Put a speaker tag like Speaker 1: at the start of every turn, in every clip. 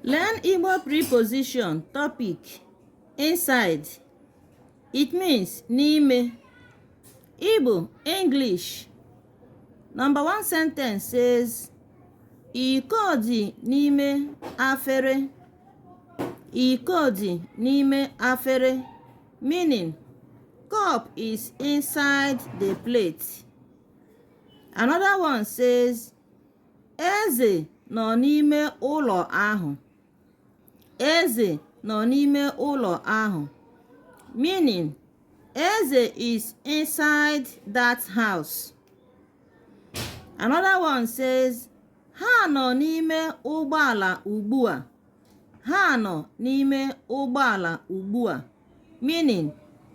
Speaker 1: Learn Igbo preposition topic inside it means n'ime Igbo English number one sentence says iko dị n'ime afere iko dị n'ime afere meaning cup is inside the plate another one says Eze nọ n'ime ụlọ ahụ. Eze nọ n'ime ụlọ ahụ. Meaning, Eze is inside that house. Another one says, ha nọ n'ime ụgbọala ugbu a. Ha nọ n'ime ụgbọala ugbu a. Meaning,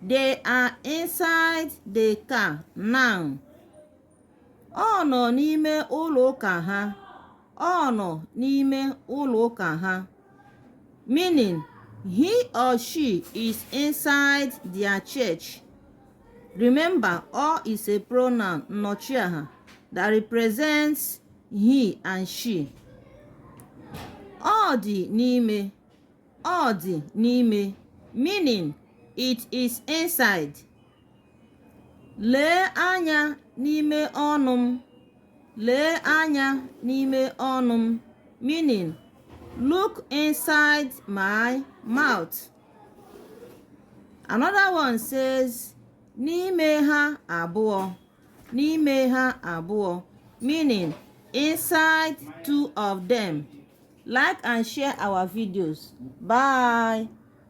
Speaker 1: they are inside the car now. Ọ nọ n'ime ụlọ ụka ha. Ọ nọ n'ime ụlọ ụka ha. Meaning, he or she is inside their church. Remember, ọ is a pronoun nnọchiaha that represents he and she. Ọ dị n'ime. Ọ dị n'ime. Meaning, it is inside. Lee anya n'ime ọnụ m. Lee anya n'ime ọnụ m. Meaning, look inside my mouth. Another one says, n'ime ha abụọ. N'ime ha abụọ. Meaning, inside two of them. Like and share our videos. Bye.